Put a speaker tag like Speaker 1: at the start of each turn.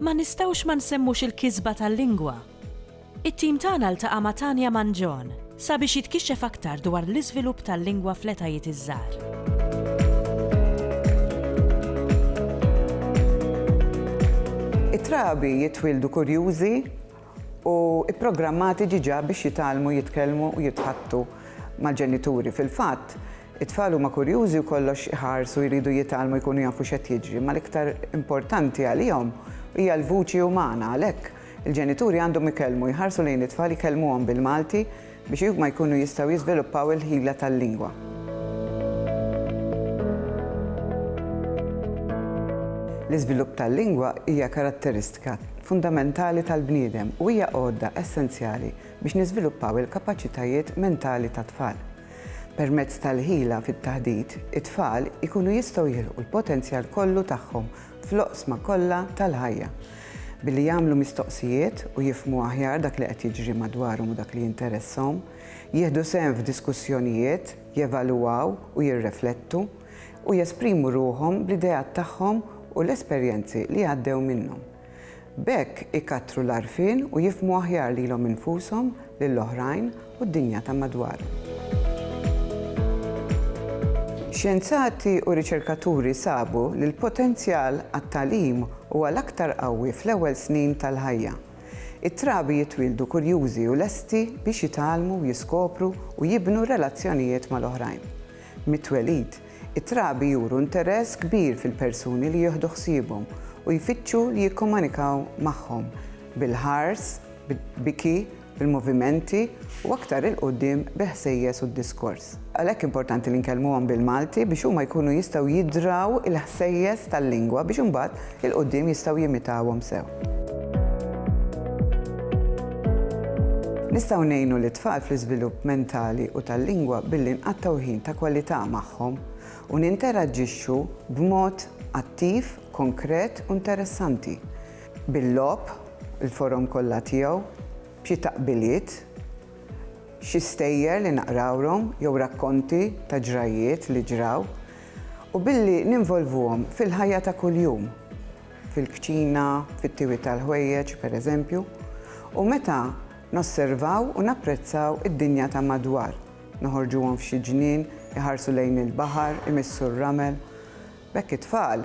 Speaker 1: Ma nistgħux ma nsemmux il-kisba tal-lingwa. It-tim tagħna ltaqa' ma' Tania Mangion sabiex jitkixxef aktar dwar l-iżvilupp tal-lingwa fl-etajiet iż-żgħar. It-trabi jitwieldu kurjużi u pprogrammati diġà biex jitgħallmu jitkellmu u jitħaddtu mal-ġenituri. Fil-fatt, it-tfal huma kurjużi u kollox iħarsu jridu jitgħallmu jkunu jafu x'qed jiġri, imma l-iktar importanti għalihom hija l-vuċi umana. Għalhekk, il-ġenituri għandhom ikellmu, jħarsu lejn it-tfal, ikellmuhom bil-Malti, biex huma jkunu jistgħu jiżviluppaw il-ħila tal-lingwa. L-iżvilupp tal-lingwa hija karatteristika fundamentali tal-bniedem u hija għodda essenzjali biex niżviluppaw il-kapaċitajiet mentali tat-tfal. Permezz tal-ħila fit-taħdit, it-tfal ikunu jistgħu jilħqu l-potenzjal kollu tagħhom fl-oqsma kollha tal-ħajja, billi jagħmlu mistoqsijiet u jifhmu aħjar dak li qed jiġri madwarhom u dak li jinteressahom, jieħdu sehem f'diskussjonijiet, jevalwaw u jirreflettu, u jesprimu ruħhom bl-ideat tagħhom u l-esperjenzi li għaddew minnhom. B'hekk ikattru l-għarfien u jifhmu aħjar lilhom infushom, lil oħrajn u d-dinja ta' madwarhom. Xjenzati u riċerkaturi sabu li l-potenzjal għat-tagħlim huwa l-aktar qawwi fl-ewwel snin tal-ħajja. It-trabi jitwieldu kurjużi u lesti biex jitgħallmu, jiskopru u jibnu relazzjonijiet mal-oħrajn. Mit-twelid, it-trabi juru interess kbir fil-persuni li jieħdu ħsiebhom u jfittxu li jikkomanikaw magħhom, bil-ħars, bil-biki, bil-movimenti u aktar 'il quddiem bil-ħsejjes u d-diskors. Għalhekk importanti li nkellmuhom bil-Malti biex huma jkunu jistgħu jidraw il-ħsejjes tal-lingwa biex imbagħad 'il quddiem jistgħu jimitawhom sew. Nistgħu ngħinu lit-tfal fl-iżvilupp mentali u tal-lingwa billi nqattgħu ħin ta' kwalità magħhom u ninteraġġixxu b'mod attiv, konkret u interessanti, bil-logħob, il-forom kollha tiegħu, b'xi taqbiliet, xi stejjer li naqrawlhom jew rakkonti ta' ġrajjiet li ġraw, u billi ninvolvuhom fil-ħajja ta' kuljum, fil-kċina, fit-tiwi tal-ħwejjeġ, pereżempju, u meta nosservaw u napprezzaw id-dinja ta' madwar, noħorġuhom f'xi ġnien, iħarsu lejn il-baħar, imissu r-ramel. B'hekk it-tfal